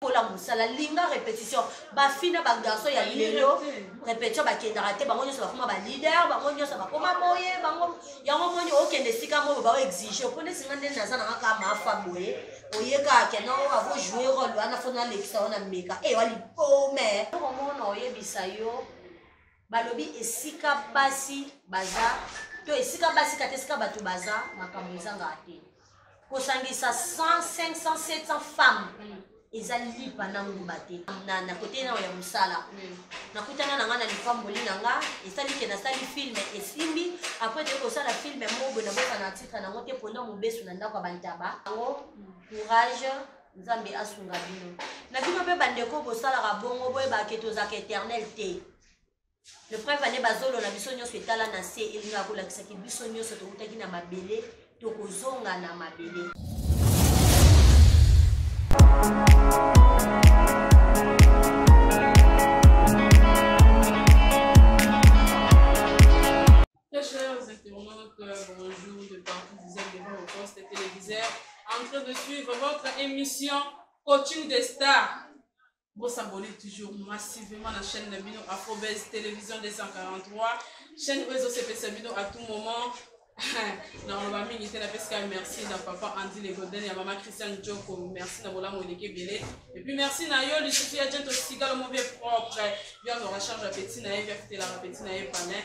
kola mosala linga répétition bafina bagarçon ya lelo répétition bakendaka te bango nyonso bakoma baleader bango nyonso bakoma boye bango yango moni okende esika moyo bao exige mpo neti nga ndeni naza nanga kaka mafa boye oyekaka kena oyo avo joue role wana fo nalekisa yo na meka ewa lipome okomona oyebisa yo balobi esika basi baza to esika basi kata esika bato baza makambo ezangaka te kosangisa 100 500 700 femme eza lipa na ngumba te na, na kote nao ya mosala mm. nakutana na ngai na lipamboli na ngai esali ke nasali filme esimbi apres toyei kosala filme mobo naboka na titre nango te mpona mobesu na ndako ya bantaba yango mm. courage nzambe asunga bino na bino mpe bandeko bosalaka bongo boyebaka ke tozalaka éternel te le preuve ane bazolo na biso nyonso etala na se elingaka kolakisaki biso nyonso tokutaki na mabele tokozonga na mabele Très chers internautes, bonjour de partout, vous êtes devant vos postes téléviseurs en train de suivre votre émission Coaching des Stars. Vous vous abonnez toujours massivement à la chaîne de Bino Afrobase Télévision 243. Chaîne Réseau CPC Bino à tout moment. na oloba mingi te napesika merci na papa andy legoden ya mama christian joko merci na bolamu eleki ebele epuis merci na yo lisusu ya jento sikalo mo vie propre bia azwaka charge ya peti na ye bia fitelaka peti na ye palin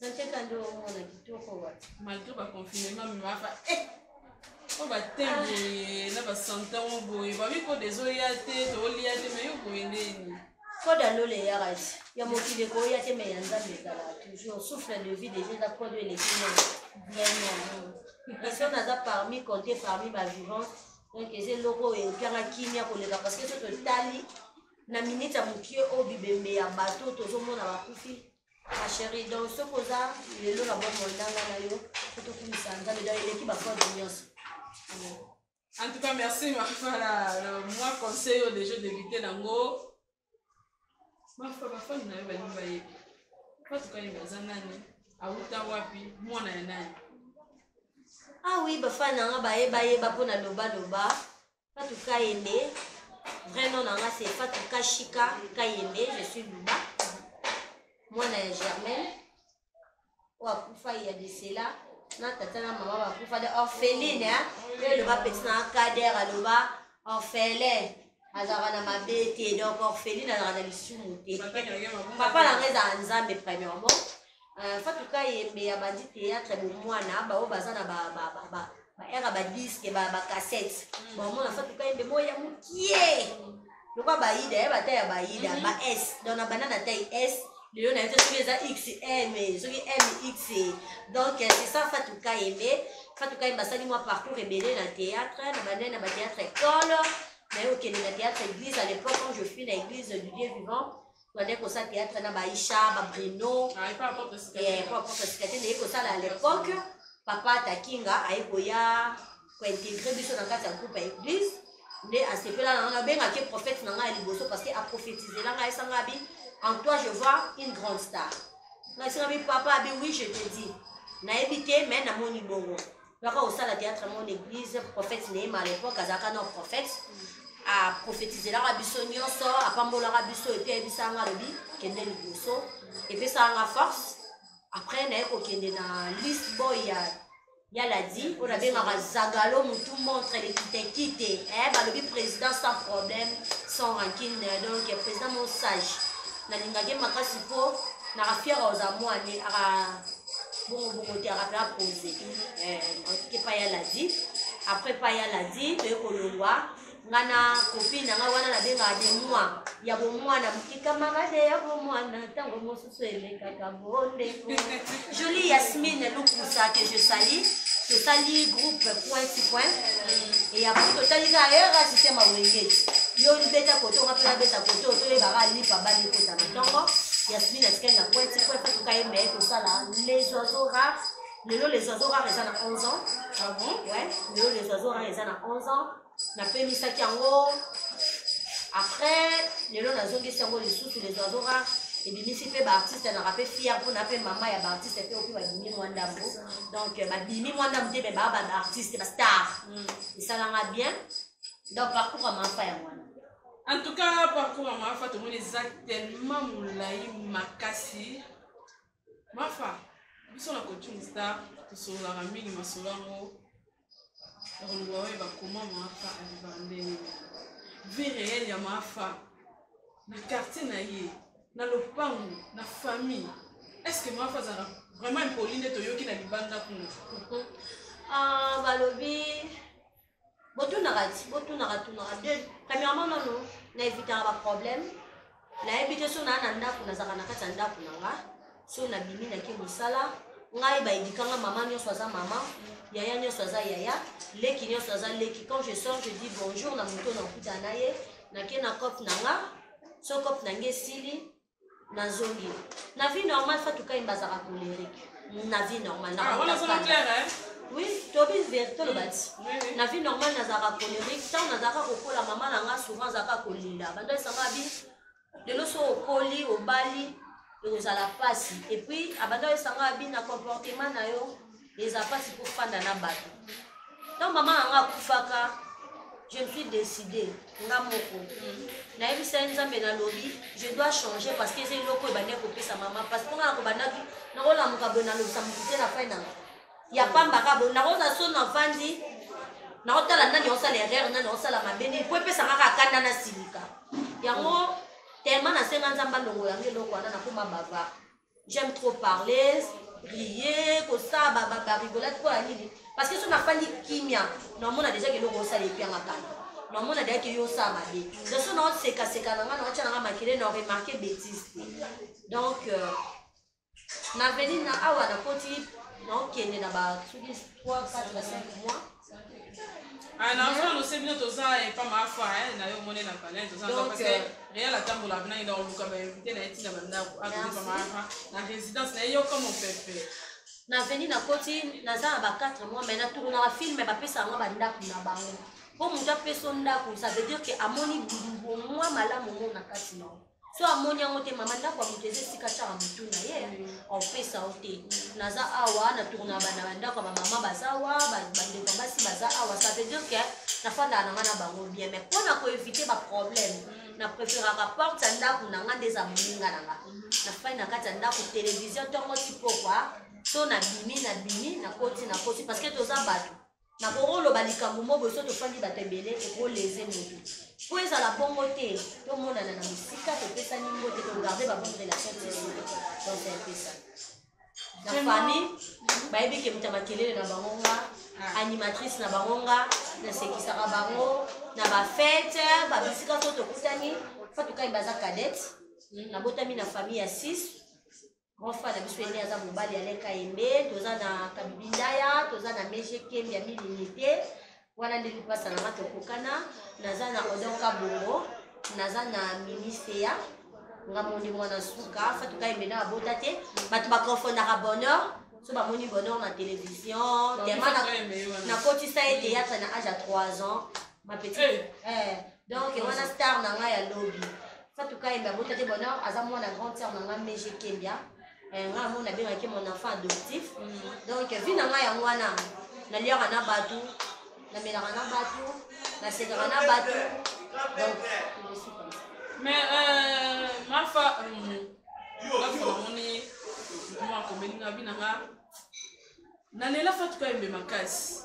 Sacheka ndio umeona kitoko wapi? Malgré ba confinement mais mafa eh o ba temps boye na ba santan o boye ba miko des oya te to olia te mais yo boye ndeni. Koda lole ya rati ya mokili ko ya te mais ya nzambe ezala toujours souffle de vie déjà eza kodo eleki na vraiment. Personne naza parmi compté parmi ba vivants donc eza eloko oyo epianga kimia koleka parce que soki totali na minute ya mokie oyo bibembe ya bato tozomona bakufi Ma chérie, donc ce que ça, les lois vont monter dans la yo, tout au plus ça, dans les l'équipe à quoi de mieux. En tout cas, merci ma fala. Moi, conseil au déjà débuté nango. Ma fala, ma fala, na yo ba nimba ye. Pas tout cas, il va zanani. Awuta wapi, moi na nani. Ah oui, ba fala na nga ba ye ba ye ba pona loba loba. Fatou Kayembe, vrai nom nanga c'est Fatou Kashika Kayembe, je suis Luba, mwana ya Germaine, oyo akufa ya Desela, na tata na mama bakufa de orpheline, hein? Yo eloba petit na Kader aloba orphelin, azalaka na mabe te, donc orpheline azalaka na lisumu te. Papa na ngai ezalaka Nzambe premièrement, Uh, Fatou Kayembe abandi théâtre bomwana baoyo baza na ba, ba, ba, ba, ba era ba disque ba, ba cassette mm. bamona Fatou Kayembe moyo ya mokie lokola bayida ya bata ya bayida mm -hmm. ba s donc na banda na tai s lelo na yebi soki eza xm soki mx donc euh, c'est ça Fatou Kayembe Fatou Kayembe asali mwa parcours ebele na théâtre na bandai na bathéâtre ekolo naye okende na théâtre église à l'époque quand je suis na église du Dieu vivant bandaki kosala théâtre na baisha babrino ah, po aporte sika te naye kosala à l'époque papa takinga aye koya kointegre biso na kati ya groupe ya église nde asepela na ngai abengaki prophète na ngai ya liboso parce que aprophétisela ngai esanga bi en toi je vois une grande star ngai esanga bi papa abi oui je te dis nayebi te mais namoni bongo baka kosala théâtre yango na église prophète neema à l'époque azalaka na prophète aprofetizelaka biso nyonso apambolaka biso epi ayebisaka nga alobi kende liboso epesaka nga force après naye kokende na list boy ya ya ladi oyo nabengaka zagalo motu montre lekitekite eh, balobi président sans problème sans rancune donc président mo sage nalingaki makasi mpo naka fiere oza mwane aka bongo bongo te akape apose te epai ya ladi après epai ya ladi toye kolongwa nga na kopine na nga wana nabengaka de mwa ya bomwana moke kamarade ya bomwana ntango mosusu elekaka bondeko jolie yasmine lukusa que je sali tosali groupe point ti point eya po totali kaka era systeme awengeti yo libeta koto nga mpe nabeta koto toyebaka lipa bali ekota na ntongo Yasmine atikali na kwete po epa toka ye meye tosala les oiseaux rares lelo les oiseaux rares eza na 11 ans ah bon ouais lelo les oiseaux rares eza na 11 ans napemisaki yango après lelo nazongisi yango lisusu les oiseaux rares ebimisi mpe baartiste naka mpe fier mpona mpe mama ya baartiste mpe oyo babimi mwa ndambo donc euh, babimi mwa ndambo te me baa babaartiste bastar mm. esalanga bien donc parcours ya mafa ya mwana En tout cas, parcours ya Mafa tomoni eza tellement molai makasi. Mafa, biso na coaching star tosololaka mingi masolo yango ya koloba oyo bakoma Mafa abiba ndenge vie réelle ya Mafa na quartier na ye na lopango na famille est-ce que Mafa azalaka vraiment impoli nde toyoki na libanda kuna. Ah, balobi botunaka ti botunaka tunaka de premièrement nano na evitaka baproblème nayebi te so naa na ndako nazalaka na kati ya ndako na nga so nabimi nake mosala ngai baedikanga mama nyonso aza mama yaya nyonso aza yaya leki nyonso aza leki quand je sors je dis bonjour na moto na okuta na ye nake na cope na nga so cope na nge esili nazongi na vie normal fatu kayi bazaka colerique na vie normal na ah, oui tobi verité oloba ti na vie normal nazalaka colerique ntango nazalaka kokola mama na nga souvent azalaka kolela bando esanga bi lelo so okoli obali ekozala mpasi epuis abanda esanga bi na comportement na yo eza mpasi kofanda na bato ntango mama na nga akufaka je me suis décidé nga moko mm. nayebisa ye nzambe nalobi je dois changer parce que eza eloko oyo ebandaki kopesa mama parce que nga na kobandaki nakolamuka boye nalobisa motu te na fai nanga ya pamba ka boye nakozala so na vandi nakotala nani osala erreur nani osala mabe nini mpo epesa nga kaka kanda na silika yango tellement nasenga nzambe alongola nga eloko wana nakoma bavare j'aime trop parler rie kosaba babarigolate mpo ya nini parce que so nafandi kimia namona deja ke eloko osala epi ya makambo namona deja ke yo osala mabe donc so naosekaseka na ngai naotya na ngai makele na remarke bétise te donc euh, na veni na awa nakoti naokende na ba soki 3 4 5 mois Ah, na fana ose bino toza epa mafa na yo omoni na palin toza parce euh, real atambola bina ina oluka bainvite na ye ntina bandako akomi pa mafa na résidence na ye yoka mopepe na veni na koti naza na ba 4 mois mai natournaka filme bapesa yango bandako na bango mpo moto apeso ndako ça veut dire ke amoni mwa malamu ngo na kati na yo so amoni yango te mama ndako ya moto eza esika tyaka motu na ye opesa o te naza awa na tourna bana bandako ya bamama baza awa bandeko basi baza awa ça veut dire que nafandaka na nga na bango bien mais mpo na koevite baproblème mm. na préféraka porte ya ndako na nga nde eza moninga na nga mm. nafai na kati ya ndako télévision ntongo tipokwa to na bimi na bimi na koti na koti parce que toza bato nakoloba likambo moko boso tofandi bato ebele ekoleze motu mpo ezala bongo te tomonana na mosika topesani mbote togarde babonne relation tiso donc epesa na famille bayebi ke moto ya makelele na bango nga ah. animatrice na bango nga nasekisaka bango na bafete babisika so tokutani fatukai baza cadete hmm, nabotami na famille ya 6 grand frère na biso ene aza mobali ya leka yembe toza na kabibindaya toza na mege kembi ya milinite wana nde lipasa na nga tokokana naza na odon kabongo naza na miniseya nga moni mwana suka fatuka yembe na abota te bato baconfondaka bonheur so bamoni bonheur na télévision tellement nakotisa ye théâtre na age ya 3 ans ma petite eh. eh donc wana star na ngai ya lobi fatou kayembe abota te bonheur aza mwana grande sœur na ngai meje kembia eh, ngai yango nabengaki mon enfant adoptif mm. donc vi na ngai yango wana naliaka na bato namelaka na bato nasekaka na bato donc mais euh, mafa euh, mafa namoni mwa komelinga bi na nga nalela fatou kayembe makasi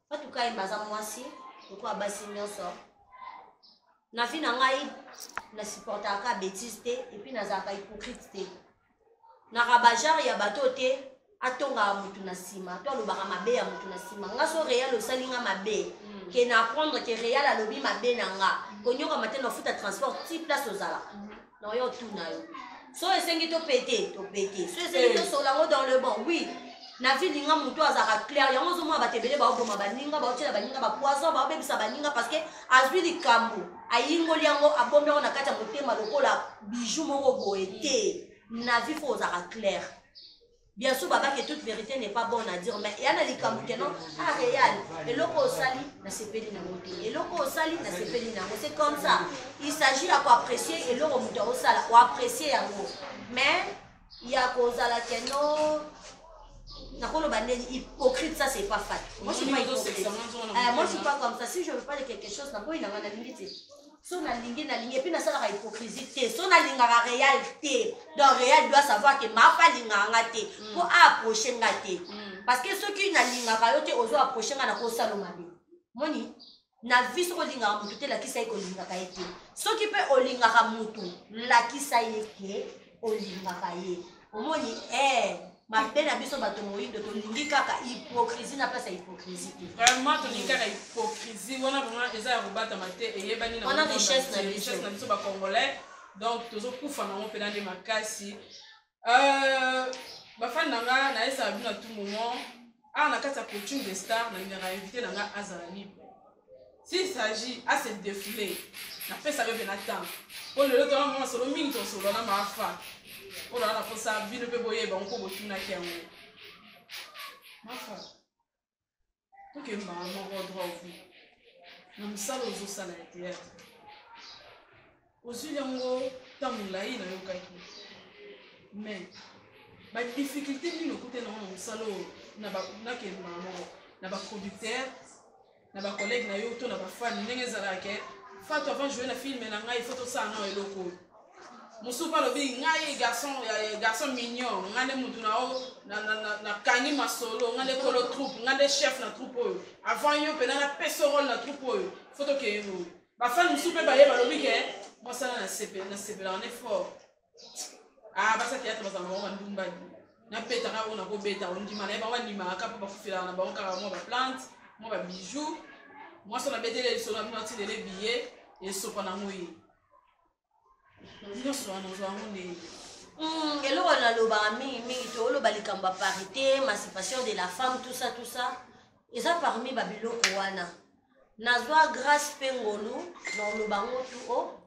fatou kayemba aza mwasi lokola basi nyonso na vie na ngai na supportaka ka bétise te epuis nazalaka hypocrite te na rabageur ya bato te atongaka motu na nsima to alobaka mabe ya motu na nsima nga so real osali nga mabe mm. ke na apprendre ke real alobi mabe na nga mm. konyokama te nafuta transport ti place ozalaka mm. Non, yo tout na yo. So esengi to pete, to pete. So esengi to sola ngo dans le bon. Oui. Na vie linga mutu azaka clair. Yango zo mwa batebele ba oboma baninga, ba otela baninga ba poison, ba obebisa baninga parce que azui likambo. Ayingoli yango abomi yango na kati ya motema lokola bijou moko boye te. Na vie faut ozaka clair. Bien sûr, baba, que toute vérité n'est pas bonne à dire, mais il y a des likambo que non, ah, réel, et loko osali, na sepeli na moto, et loko osali, na sepeli na moto, c'est comme ça. Il s'agit à quoi apprécier, et loko moto osala, ou apprécier à moto. Mais, il y a cause à la que non, nakoloba ndeni hypocrite ça c'est pas fat moi je suis pas hypocrite euh, moi je suis pas comme ça si je veux pas de quelque chose naboyi nanga nalingi te so nalingi nalingi epuis nasalaka hypocrisie te so nalingaka real te donc real doit savoir ke mafa alingaka nga te mm. mpo aapproche nga te mm. parce que soki nalingaka yo te ozo approche nga nakosalo mabe moni na vie soki olingaka motu te lakisa ye kolingaka ye te soki mpe olingaka motu lakisa ye ke olingaka ye omoni eh, mabe na biso bato moyindo tolingi kaka hypocrisie na place ya hypocrisie te vraiment tolingi kaka hypocrisie wana vraiment eza ya kobatama te eyebani na wana richesse na biso na biso ba congolais donc tozokufa nango mpena nde makasi euh, bafani na nga nayesaka bino na tout moment awa na kati ya coaching de star nalingaka invité na ngai azala libre s'il s'agit ase défoule napesaka mpe na temps mpo lelo tona mwa masolo mingi tosolo na maafa mpo naa naposa bino mpe boyeba yango mpo botunaki yango mafa tokembaka moko droit ovi na mosala ozosala ya théâtre Ozwili yango ntango molai nayokaki mais badifficulté nini okutani yango na mosala oyo nakende mbala moko na baproducteur na bacollègue na yo to na bafani ndenge ezalaka ke fatu avant joue na filme na ngai fo tosala nao eloko oyo mosusu mpe alobi ngai garçon garçon mignon ngai nde motu nao nakangi masolo ngai nde kolo troupe ngai nde chef na troupe oyo avant yo mpena napesa role na troupe oyo fo tokeyelo oyo Ba fans mosusu mpe baye balobi ke mwasana nasepelaka ne fort. Ah, basa théâtre bazala bango bandumba napetaka oyo nakobeta ondima na ye bango bandimaka kaka mpo bakufelaka na bango kaka mwa baplante mwa babijou mwasi oyo nabeteli lisolo na bino atilele biye esopa na moi nyonso wana ozwa yango ndenge hmm, eloko wana nalobaka mingi mingi to oloba likambo ya parité émancipation de la femme tout ça tout ça eza parmi babiloko wana nazwa grâce mpe ngolu na oloba yango tu o oh,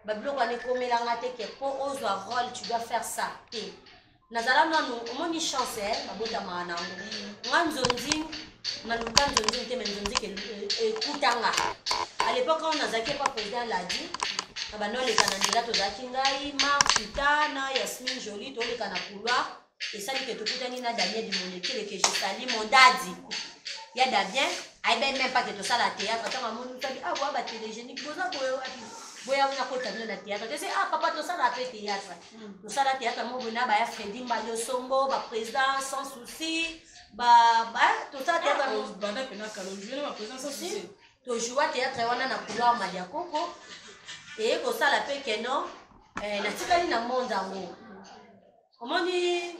babiloko wana ekomelanga te ke mpo ozwa role tu dois faire ça te nazala nanu omoni chance eh, babotamaka na yango nga nzonzi naluka nzonzi te me nzonzi ekutanga à l'époque oyo nazalaki epa président ladi na banda oleka na nzela tozalaki ngai mark sita na yasmine joli toleka na couloir esali ke tokutani na damien dimonekele ke jetali mondadi ya damien ayebai meme pas ke tosala théâtre ntango amoni tabi ah boya batelegénique boza boye wapi boya nakota bino na théâtre tese ah papa tosala mpe théâtre tosala théâtre moko boye na baya fredi mbadi osombo baprésident sans souci tosala théâtre tojoua théâtre wana na couloir madia koko eye kosala mpe keno eh, natikali na monde yango omoni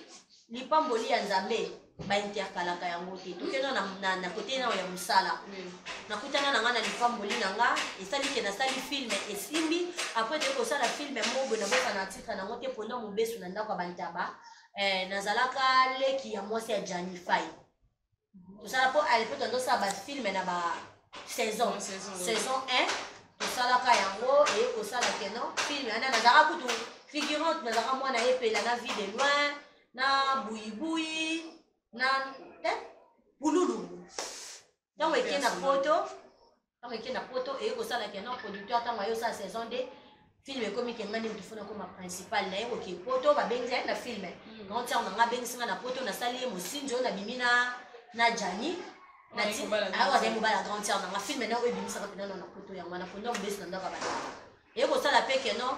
lipamboli ya nzambe bainterkalaka yango te tokenda na kote nao ya mosala nakutana na ngai na lipamboli na nga esali ke nasali filme esimbi apres toyei kosala filme mobo naboka na titre nango te mpona mobesu na ndako ya bantaba eh, nazalaka leki ya mwasi ya janifai tosala mpo ale mpo tozosala bafilme na ba saison saison 1 tosalaka yango eye kosala keno filme ana nazalaka kutu figurante nazalaka mwana epela na vie de loin na buyibuyi na eh, pululu ntango eke na poto Tango eke na poto eye kosala ke non producteur tango ayo sa saison 2 film ekomi ke ngani mutu fona koma principal na ye koke poto babengi ye na film hmm. grand sœur na nga abengisi nga na poto nasali ye mosinzo nabimi na na jani awa azali mobala ah, grande sœur na nga film na oyo ebimisaka mpenza no na poto yango wana mpo ndako besi na ndako ya bandako eye kosala mpe ke non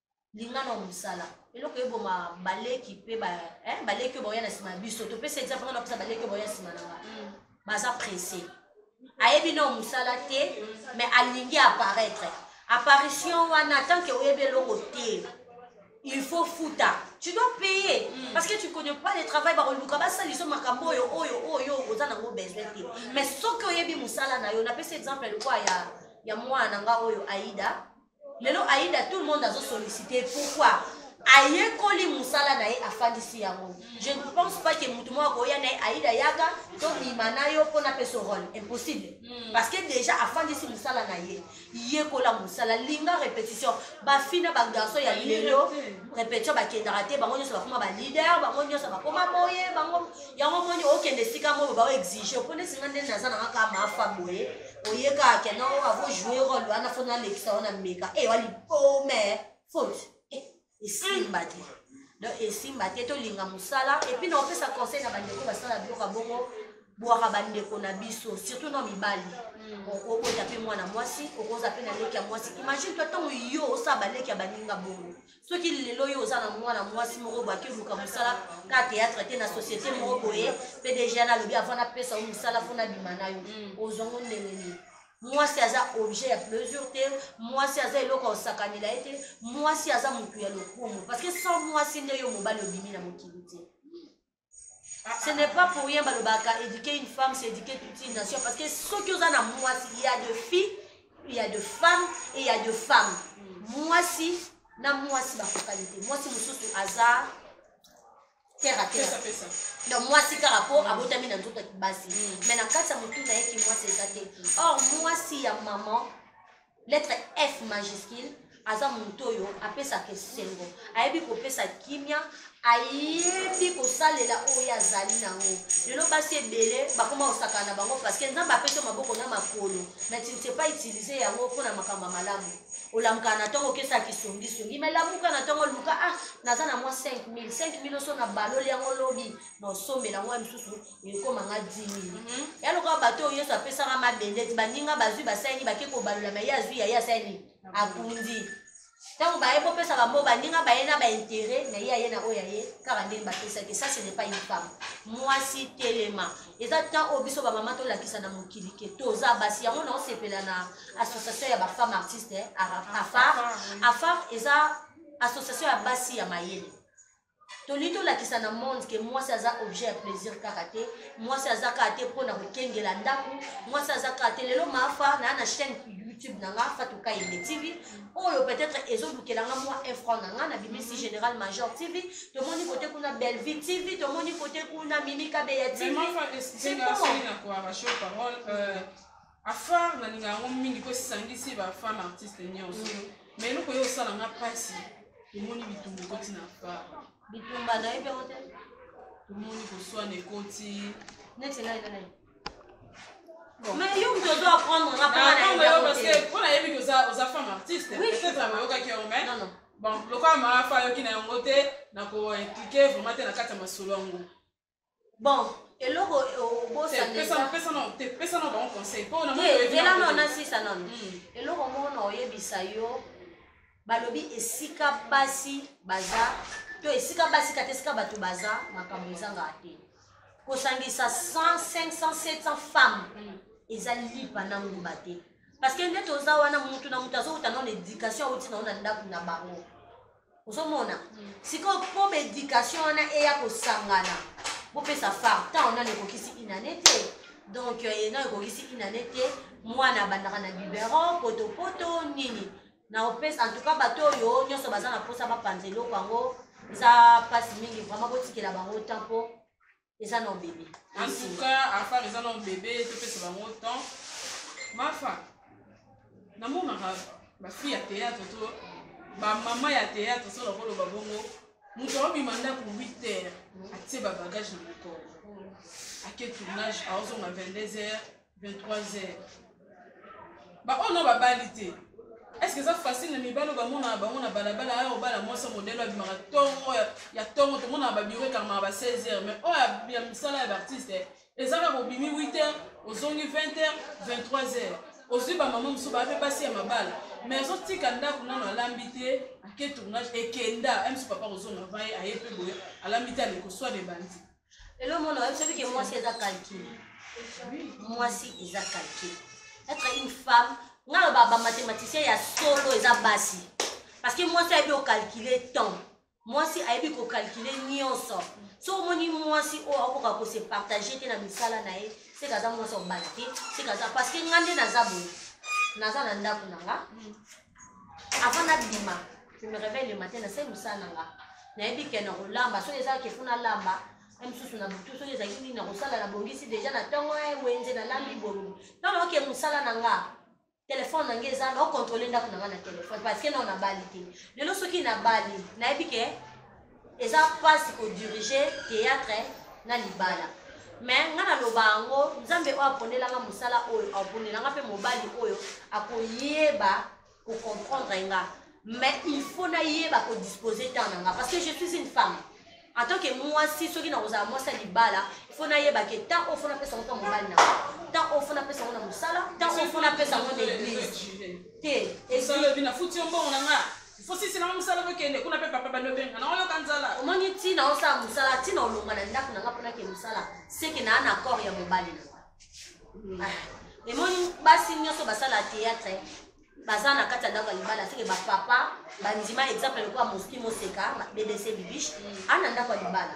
linga na mosala eloko eboma baleki mpe eh, baleki oyo baoya na nsima ya biso topesa exemple nga napesa baleki oyo baoya nsima na nga mm. baza presse ayebi nao mosala te mais alingi apparaître apparition wana tant que oyebi eloko te il faut futa tu dois payer mm. parce que tu connais pas le travail bakoluka basaliso makambo oyo oyo oyo oza nango besoin te mais soki oyebi mosala na yo napesi exemple lokwa ya, ya mwana na nga oyo aida lelo aida tout le monde azo sollicite pourquoi ayekoli mosala na ye afandisi yango je ne pense pas ke motu moko akoya na ye aida yaka tobima na yo mpo napesa role impossible hmm. parce que déjà afandisi mosala na ye yekola mosala linga répétition bafi na bagarçon ya lelo répétition bakendaka te bango nyonso bakoma baleader bango nyonso bakoma boye bango yango moni okende esika moko baoexige mpo ndesinga nde naza nanga kaka mafa boye oye kaka kende yango avo joue role wana fo nalekisa wana meka e eh, wali pome oh, faute eh, esimba te donc esimba te tolinga mosala epuis na opesa conseil na bandeko basala biloko ya bongo bwaka bandeko na biso surtout na mibali mm. okobota mpe mwana mwasi okoza mpe na leki ya mwasi imagine toi ntango yo osala baleki ya baninga bongo soki lelo oyo oza na mwana mwasi moko boye akiluka mosala ka théâtre te na société moko boye mpe deja nalobi avant napesa yo mosala mpo nabima na yo mm. ozwa ngo ndenge nini mwasi aza objet ya plaisir te mwasi aza eloko ya kosakanela ye te mwasi aza motu ya lokumu parce que sans mwasi nde yo mobali obimi na mokili te ce n'est pas pour rien balobaka éduquer une femme c'est éduquer toute une nation parce que soki oza na mwasi il y a de filles il y a de femmes et il y a de femmes mwasi na mwasi bakokani te mwasi mosusu aza terre à terre donc mwasi kaka mpo abotami na nzoto ya kibasi mais na kati ya motu na ye kimwasi eza te or mwasi ya maman lettre f majuscule aza moto oyo apesaka esengo ayebi kopesa kimia ayebi kosalela oyo azali nango lelo basi ebele bakoma kosakana na bango parceke nzambe apesi yo maboko na makolo mais tu ne sais pas utiliser yango mpo na makambo ya malamu olamukaka na ntongo okesa kisongisongi mai lamuka na ntongo luka ah naza na mwa 5000 5000 oso na baloli yango lobi na osombela yango ya mosusu ekoma nga 10000 mhm. ya lokola bato oyo yesu apesaka mabende ti baninga bazwi basalini bake kobalola me ye azwi yaye asalini akundi ntango baye bopesaka mo baninga baye na baintere na ye aye na oyo aye kaka ndenge bapesaki sa ce n'est pas une femme mwasi telema eza temps oyo biso bamama tolakisa na mokili ke toza basi yango naosepela na association ya bafemme artiste eh, afar afar eza association ya basi ya mayele tolingi tolakisa na monde ke mwasi aza objet ya plaisir kaka te mwasi aza kaka te mpo na kokengela ndako mwasi aza kaka te lelo maafa naa na chaîne youtube na nga fatuka yende tv oyo peut-être ezolukela nga mwa infran na nga na bimisi mhm. général major tv tomoni kote kuna bellevie tv tomoni kote kuna mimi kabeya tv c'est bon afar nalinga yango mingi mpo esangisi bafemme artiste nyonso mm. ma eloko ye osala nga mpasi omoni bitumba ekoti na afar bitumba nayebi yango te tomoni koswana ekoti neti ngai na ngai mais yo moto ozo apprendre nga mpona ah, nayebi te oza femme artiste peut-être abayokaki yango mais bon lokola maafa ayoki na yango te nakoimplike vraiment te na kati ya masolo yango bon eloko obosanisaepesa na bango conseil mpo naela no na sisa nano hmm. eloko moko na oyebisa yo balobi esika basi baza to esika basi kata esika bato baza makambo ezangaka te kosangisa 100 500 700 femmes hmm. eza lipa na ngumba te parce que nde toza wana mutu na mutu azowuta nano na éducation awuti nango na ndako na bango ozomona sikoyo mpo baéducation wana eya kosangana bopesa far ntango nano ekokisi inane te donc euh, ena ekokisi inane te mwana abandaka na biberon potopoto nini na opesa en tout cas bato oyo nyonso baza na mposa bapanza eloko yango eza mpasi mingi vraiment botikela bango temps mpo eza na bebe en tout cas afar eza na bebe topesa bango temps mafa namonaka bafille ya théâtre to bamama ya théâtre so nakoloba bongo moto aobima ndako 8 heures atie babagage na mokolo ake tournage aozonga 22 heures 23 heures ba oyo na babali te eske eza facile na mibali oyo bamonaka bango na balabala aya obala mwasi ya modele abimaka ntongo ya ntongo tomonaka babiro ekangamaka ba 16 heures mais oyo ya misala ya baartiste eza kaka obimi 8 heures ozongi 20 heures 23 heures ozwi bamama mosusu baa mpe basi ya mabala mais azotika ndako nano alambi te ake tournage ekenda msu papa kozonga vaye aye mpe boye alambi te alekoswa de bandi lelo mona oyebi soki ke mwasi eza calcul mwasi eza calcul être une femme nga loba bamathematicien ya solo eza basi parce que mwasi ayebi okalcule temps mwasi ayebi kokalcule nyonso so omoni mwasi oyo akoka kose partage te na misala na ye seke aza mwasi obala te seke aza parce que nga nde naza boye naza na ndako na nga avant nabima je me réveille le matin nasali mosala na nga nayebi ke nakolamba soki ezalaki efo nalamba na mosusu na butu soki ezalaki nini nakosala nabongisi deja na ntongo e wenze nalambi bolulu ntango nayoke mosala na nga telefone na ngai eza naokontrole ndako na nga na telefone parce que nao nabali te lelo soki nabali nayebi ke eza pasi ko diriger théâtre na libala mais nga naloba yango nzambe oyo aponelanga mosala oyo aponelanga mpe mobali oyo akoyeba kocomprendre nga mais il faut nayeba kodispose temps na nga parce que je suis une femme en tant que mwasi soki nakozala mwasi ya libala faut nayeba ke temps oyo fo napesa yango mpe mobali na temps oyo fo napesa yango na mosala temps oyo fo napesa yango na église te Osisi na musala bokende kuna pe papa balobenga na oyoka nzala. Omoni ntina osala musala ntina olonga na ndako na nga mpona ke musala seke na ana accord ya mobali na nga. Ah, emoni basi nyonso basala théâtre baza na kati ya ndako ya libala seke bapapa bandima exemple lokola mosli moseka bbc bibiche ana ndako ya libala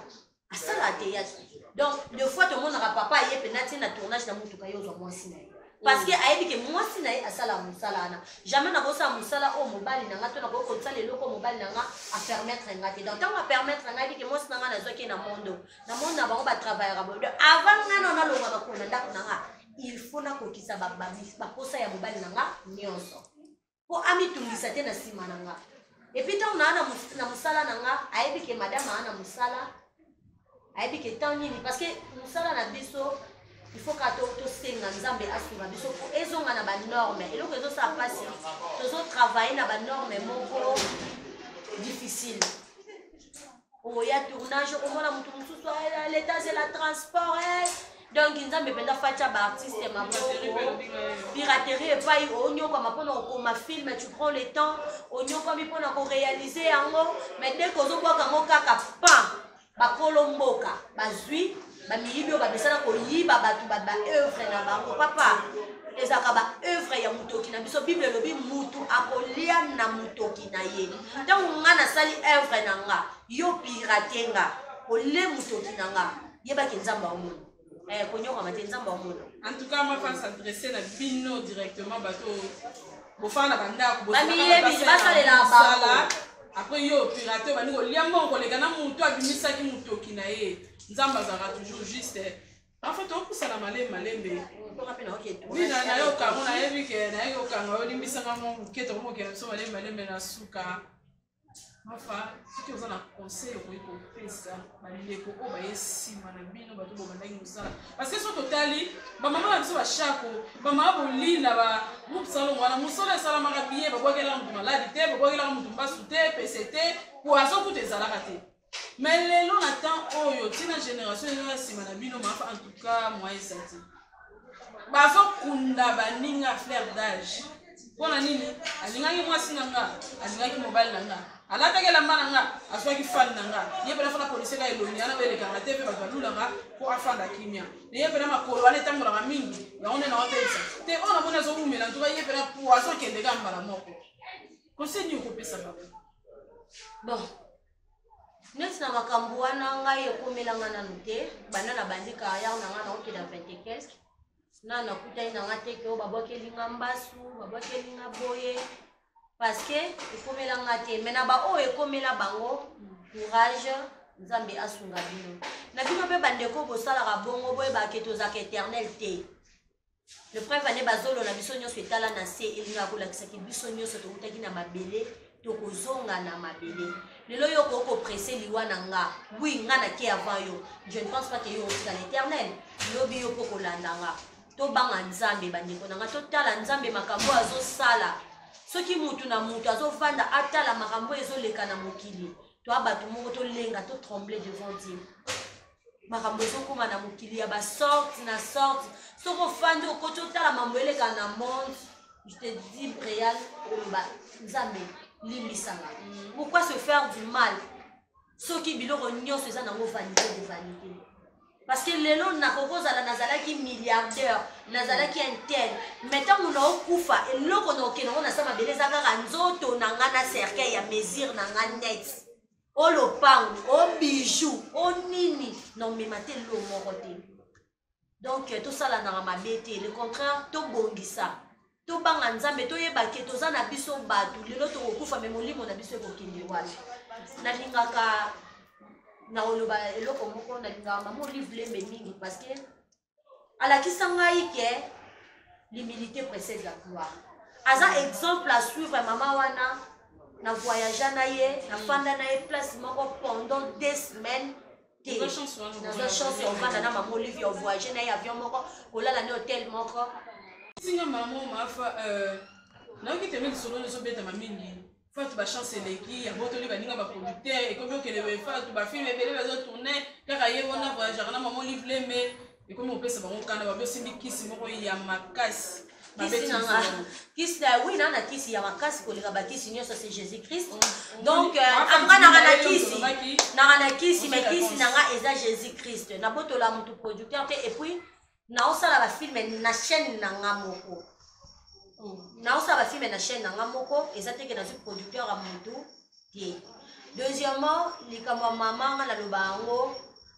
asala ateyage donc de fois tomonaka papa aye mpe natie na tournage na motuka ye ozwa mwasi na ye parce que ayebi ke mwasi na ye asala mosala wana jamais nakosala mosala oyo mobali na nga to nakoki kosala eloko oyo mobali na nga apermettre nga te donc ntango apermettre nga yebi ke mwasi na nga nazwaki ye na mondo na mondo na bango batravaillaka boye donc avant nga nao nalonga makolo na ndako na nga il faut nakokisa baposa ya mobali na nga nyonso mpo amitungisa te na nsima na nga epuis ntango naa na mosala na nga ayebi ke madame aa na mosala ayebi ke temps nini parce que mosala na biso il faut kaka tosenga nzambe asunga biso mpo ezonga na banorme eloko ezosala mpasi tozotravaille na banorme moko difficile oya oh, tournage okomona moto mosusu ah, leta azela transport eh. donc nzambe mpenza fatia baartiste maboko piraterie epai onyokwama mpona kokoma film tu prends le temps onyokwami mpona korealize yango mais deke ozobwaka yango kaka pan bakolo mboka bazwi ba miyibi oyo bamesana koyiba bato ba baœuvre na bango papa ezalaka baœuvre ya motoki na biso bible elobi motu akolia na motoki na ye ntango nga nasali œuvre na nga yo pirate nga olie motoki na nga yebaki nzambe aomona eh, konyokama te nzambe aomona en tout cas ma femme s'adresse na bino directement bato bofana na bandako bamiyebi basalela bango après yo pirate obandi kolia mbongo koleka na motu abimisaki motoki na ye nzambe azalaka toujours juste parfois tokosala malembe malembe oui nayoka yango nayebi ke nayebi kokanga yo limbisanga mo moke tokomokela biso malembe malembe na suka mafa soki oza na conseil okoki kopesa bandeko oyo baye nsima na bino bato bobandaki mosala parce que soki totali bamama na biso bashako bamama bolina ba groupe salongo wana mosala esalamaka biye babwakelaka moto maladi te babwakelaka moto mbasu te pese te poison kutu ezalaka te mais lelo na temps oyo ntina génération eza na nsima na bino mafa en tout cas moyen eza te bazokunda baninga flair d'age mpo na nini alingaki mwasi na nga alingaki mobali na nga alataki elamba na nga azwaki fani na nga ye mpena fana poliseka elongi yana belekanga te mpe bato balulaka mpo afanda kimia na ye mpena makolo wana etangolaka mingi yango nde naotelisa te oyo namoni azowumela ntuka ye mpena po azokendeka mbala moko koseni okopesa bango bon neti na makambo wana ngai ekomela ngai nanu te banda na bandi carrière na ngai naokenda 20 et quelque nanu nakutani na ngai te ke oyo babwakeli ngai mbasu babwakeli ngai boye parce que ekomela ngai te mai na baoyo ekomela bango courage nzambe asunga bino na bino mpe bandeko bosalaka bongo boyebake tozalaka éternel te le preuve ane bazolo na biso nyonso etala na se elingaka kolakisaki biso nyonso towutaki na mabele tokozonga na mabele lelo yo okoki kopresse liwa na nga wi nga nake avant yo je ne pense pas ke yo otika l'éternel lobi yo mpo kolanda nga tobanga nzambe bandeko na nga totala nzambe makambo oyo azosala soki motu na motu azovanda atala makambo oyo ezoleka na mokili toa bato moko tolenga totremble devant dieu makambo ezokoma na mokili ya basorte na sorte soki ofandi okoti otala mambo eleka na monde je te dis real oloba nzambe limbisanga mm. pourquoi se faire du mal soki biloko nyonso eza nango vanité de vanité parce que lelo nakoki kozala nazalaki milliardaire nazalaki intel mai ntango naokufa eloko naokende yango na sa mabele eza kaka nzoto na ngai na cercueil ya mesure na ngai net o lopango o bijou o nini na omema te lo moko te donc euh, tosalanaka mabe te le contraire tobongisa tobanga nzambe toyeba ke toza na biso bato lelo tokokufa me molimo na biso ekokende wapi nalingaka na oloba eloko moko nalingaka mama olive lembe mingi parce que alakisa ngai ke l'humilité précède la gloire aza exemple à suivre ya mama wana na voyagea na ye nafanda na ye place moko pendant deux semaines te nazwa chance ya ovanda na mama olive ya ovoyage na ye avion moko kolala na hotel moko singa mama mafa euh, nayoki teme lisolo lizobetama mingi fatu ba chance eleki ya botoli baninga ba producteur ekomi okende boye fatu ba film ebele bazo tourne kaka ye wana voyagaka na mama olive lembe ekomi kopesa bango kanda babi osimbi kisi moko ya makasi kisi na nga kisi na oui na na kisi ya makasi koleka bakisi nyonso c'est jésus christ oh, oh, donc euh, anga nanga na kisi nanga na kisi mais kisi na nga eza jésus christ nabotola motu producteur te epuis naosala bafilme na chaîne na nga moko hmm. naosala bafilme na chaîne na nga moko eza teke nazwi producteur ya motu te deuxièmement likambo ya mama nga naloba yango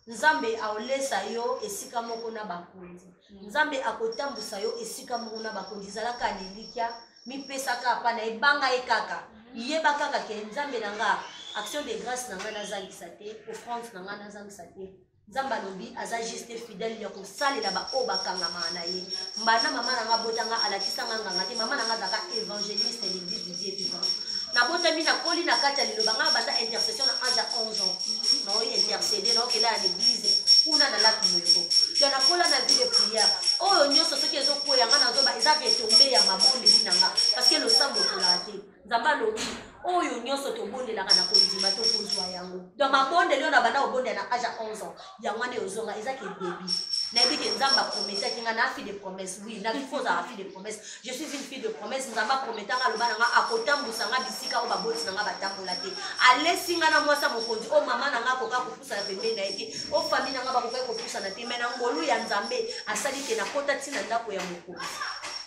nzambe aolesa yo esika moko na bakonzi hmm. nzambe akotambusa yo esika moko na bakonzi ezalaka lilikya mipesaka apa na ebanga ye kaka hmm. yeba kaka ke nzambe na nga action de grâce na ngai nazangisa te offrande na ngai nazangisa te nzambe alobi aza juste fidèle ya kosalela baoyo bakangamaka na ye mbanda mama na nga abota nga alakisa nga nganga te mama na nga azalaka évangéliste ya l'église du dieu vivant nabotami nakoli na kati ya liloba nga banda intercession na age ya 11 ans naoyi intercede naokela ya l'église kuna na laki moyeko ya nakola na vie de prière oyo nyonso soki ezokweya nga nazoba eza retombe ya mabondeli na nga parce que losambo ekolaka te nzambe alobi oyo nyonso tobondelaka na kondima tokozwa yango don mabondeli oyo na banda kobondela na age ya 11 ans yango wana eyozonga eza ke debi nayebi ke nzambe aprometaki ngai na fille de promesse oui na fo ozala fille de promesse je suis une fille de promesse nzambe aprometa ngai aloba na ngai akotambusa ngai bisika oyo baboti na ngai batambola te alesi ngai na mwasi ya mokonzi oyo mama na ngai akoka kopusana pembeni na ye te oyo fami na ngai bakokaki kopusana te mai na ngolu ya nzambe asali te nakota ntina ndako ya mokonzi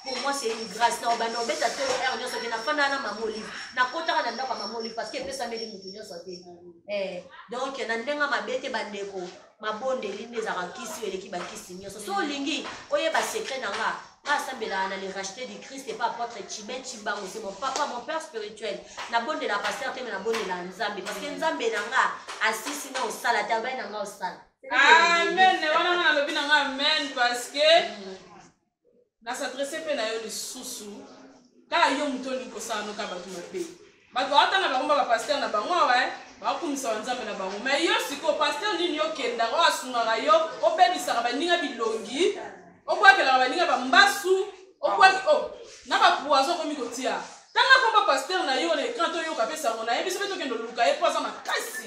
pour moi c'est une grâce na obanda obeta tolo heure nyonso te nafandaka na mama olive nakotaka na ndako ya mama olive parce que epesameli moto nyonso te eh, donc na ndenge mabe te bandeko mabondeli nde ezalaka kisi oyo eleki bakisi nyonso so olingi oyeba secret na nga asambelaka na le racheté du christ epa apôtre chiben chimbango c'est mon papa mon père spirituel nabondela pasteur te me nabondela nzambe parce que nzambe na nga asisi na osala te abai na nga osala amen wana nga nalobi na nga amen parce que na s'adresse mpe na yo lisusu kaka yo moto olingi kosala noka bato mabe bato ata na bango ba bapaster na bango awa eh, bakumisa banzambe na bango mai yo sikoyo paster nini okendaka oyo asungaka yo obebisaka baninga bilongi obwakelaka baninga bambasu obwaki o oh, na bapoiso okomi kotia ntanga komba paster na yo na ekran toyoka mpe sango na ye biso mpe tokende oluka ye mpo aza makasi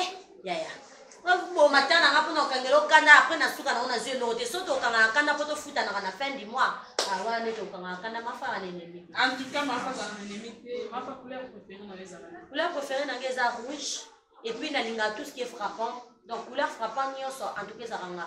eh, yaya boma ta nanga mpona kokangela okanda apres na suka nango nazwi eloko te soki tokangaka kanda mpo tofutanaka na fin du mois awana nde tokangaka kanda mafaka na enemi couleur préféré nanga eza rouge epuis nalingaka tout ce qui est frappant donc couleur frappant nyonso en tout cas ezaka nga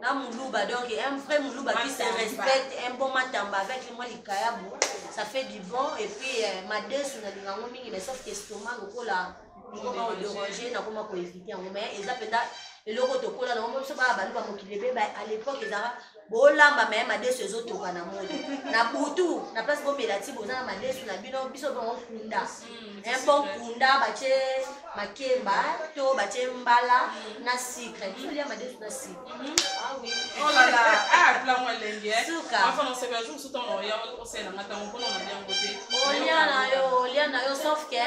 na muluba donc un vrai muluba qui se respecte un bon matamba avec moi likayabu ça fait du bon et puis euh, madesu nalinga yango mingi mais sauf que estomac lokola ekoma koderange nakoma koevite yango mais eza mpenza eloko tokola nango biso baa baluba mokili ebe à l'époque ezaka bolamba maye madesu ezotoka na moi na butu na place bomela ti boza na madesu na bino biso bango kunda mpo nkunda batye makemba to batye mbala na sucre tolia madesu na sucre olia na yo olia na yo sauf que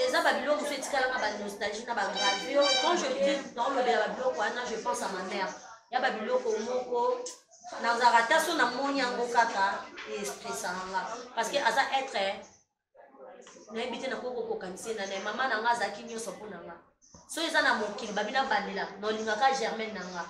eza babiloko mosusu etikalaka banostalgie na bagravio quand je dis naolobela babiloko wana je pense à ma mère ya babiloko moko nazalaka ta so namoni yango kaka estresa nanga parce que aza être nayebi te nakoki kokokanisa na naye mama na nga azalaki nyonso mpo na nga so eza na mokili babi nabandela nolingaka germaine na nga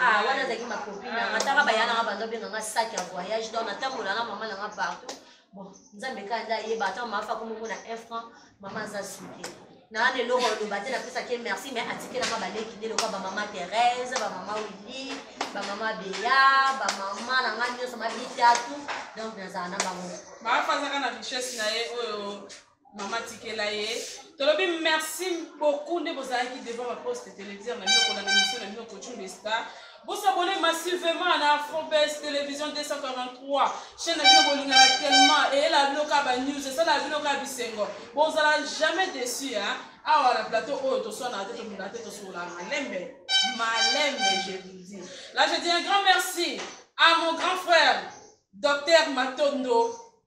ah, wana azalaki makopi na nga ntaka baya na nga bando benga nga sak ya voyage donc natambola na mama na nga partout bon nzambe kanda ayeba ata mama afa komomona un franc mama aza suki naana eloko aloba te napesaki ye merci mais atikelanga baleki nde lokola bamama therese bamama willi bamama beya bamama na ngai nyonso mabitatu donc nazala na bango baafazaka na richesse na ye oyo mama tikela ye tolobi merci beaucoup nde bozalaki devant baposte téléviseur na bino kolanda misio na bino coaching de star Bo s'abonner massivement na Afrobest Television 243 chaîne na bino bolingaka tellement eyela bino ka ba news esala bino ka bisengo bozala jamais déçu hein awa na plateau oyo toswana te tobunda te tosola malembe malembe je vous dis là je dis un grand merci à mon grand frère docteur Matondo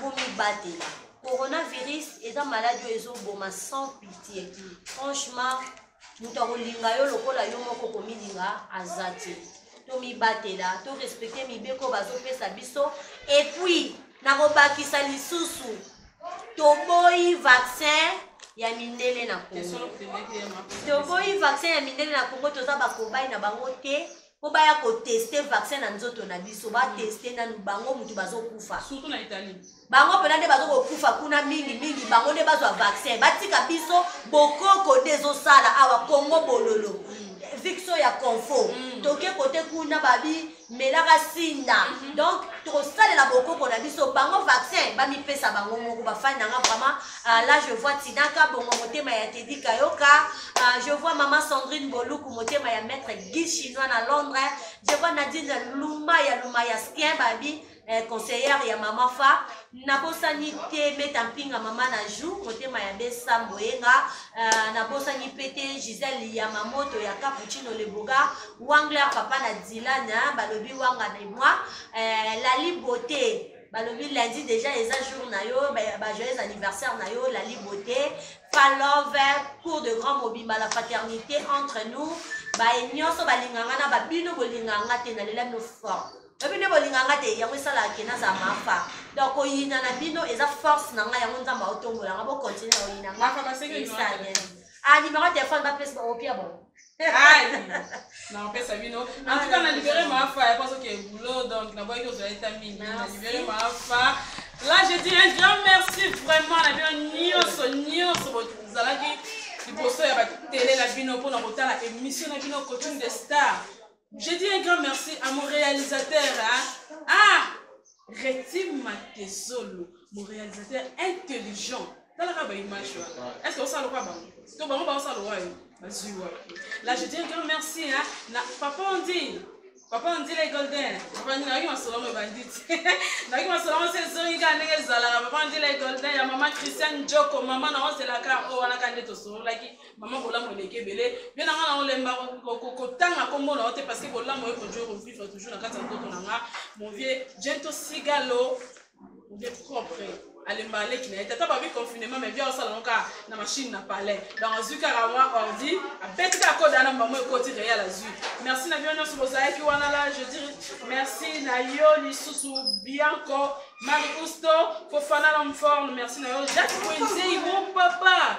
bomibatela coronavirus eza maladi oyo ezoboma sans pitie franchement moto akolinga yo lokola yo moko komilinga aza te tomibatela torespecte mibeko bazopesa biso epuis nakobakisa lisusu toboyi vaccin ya mindele na kongo toboyi vaccin ya mindele na kongo toza bakobai na bango te mpo baya koteste vaccin na nzoto na biso bateste mm. nanu bango motu bazokufa bango mpena nde bazokokufa kuna mingi mingi bango nde bazwa vaccin batika biso bokoko nde ezosala awa kongo bololo mm. victio ya confo mm. toke kote kuna babi melaka sinda mm -hmm. donc tokosalela bokoko na biso bango vaccin bamipesa bango moko bafani nanga vraiment Ah, là, je vois Tinaka Bongo Motema ya Teddy Kayoka. Ah, je vois Maman Sandrine Boluku Motema ya Maître Guy Chinois na Londres. Je vois Nadine Luma ya Luma ya Skien Babi. Eh, conseillère ya mama fa nabosani te meta mpinga mama na jou motema ya besa mboyenga uh, eh, nabosani mpe te gisele ya mamoto ya capuccino leboga wangler papa na dilana balobi wanga de moi uh, lali beauté balobi lundi deja eza jour na yo bajoyeux anniversaire na yo lali beauté palove cour de grand mobimba la paternité entre nous baye nyonso balinganga na babino bolinganga te nalela bino fort oyebi nde bolinganga te yango esalaka ke naza mafa donc koyina na bino eza force na ngai yango nzambe aotombolanga bokontinue na oyina ngai ah numéro ya telefone bapesa baopia bongo nakopesa bino antuka na libere maafa ya paso ke boulot donc naboyaki ozwa eta mingi na libere maafa là je dis un grand merci vraiment na bino nyonso nyonso bozalaki liboso ya batele na bino mpona kotala émission na bino coaching de star Je dis un grand merci à mon réalisateur hein? ah Retim Matezolo mon réalisateur intelligent talaka ba image wana est ce que osala kwa bango to bango baosala wayo bazwi wapi la je dis un grand merci hein? na papa ondini papa ondile golden papa ndile nayoki masolo yango ebandi te nayoki masolo yango se ezongi kaka ndenge ezalaka papa ondile golden ya mama christian joko mama na ozelaka oyo wana ka nde tosololaki Maman bolamu eleki ebele bien na nga na olemba kotanga kombo na yo te parce que bolamu oye kodjo kovivre toujours na kati ya nzoto na nga mon vieux jento sigalo mon vieux propre alemba aleki na ye tata babi confinement mais bia osala ngo kaka na machine na palais donc azwi kaka mwa ordi abeti kaka koda na mbamo ekoti real azwi merci na bino nyonso bozalaki wana la je dire merci na yo lisusu bianco marie usto fofana l'homme forme merci na yo jacques wenzeimo papa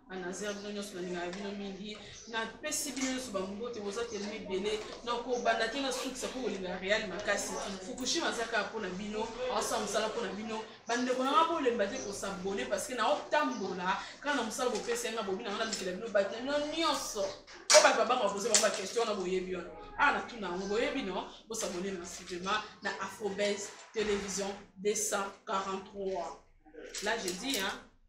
Anazia bino nyonso nalingaka bino mingi napesi bino nyonso bambote boza telema ebele na kobanda te nasukisa mpo kolingaka real makasi fukushima aza kaka mpo na bino aosala mosala mpo na bino bandeko nanga bolemba te kosabone parceke naotambola kaka na mosala bopesa yanga bobi nanga nalukela bino bato na bino nyonso po bato babanga bapoze bango baquestion wana boyebi wana awa ah, natuna yango boyebi no bosabone na sivema na afrobase television 243 là je dis hein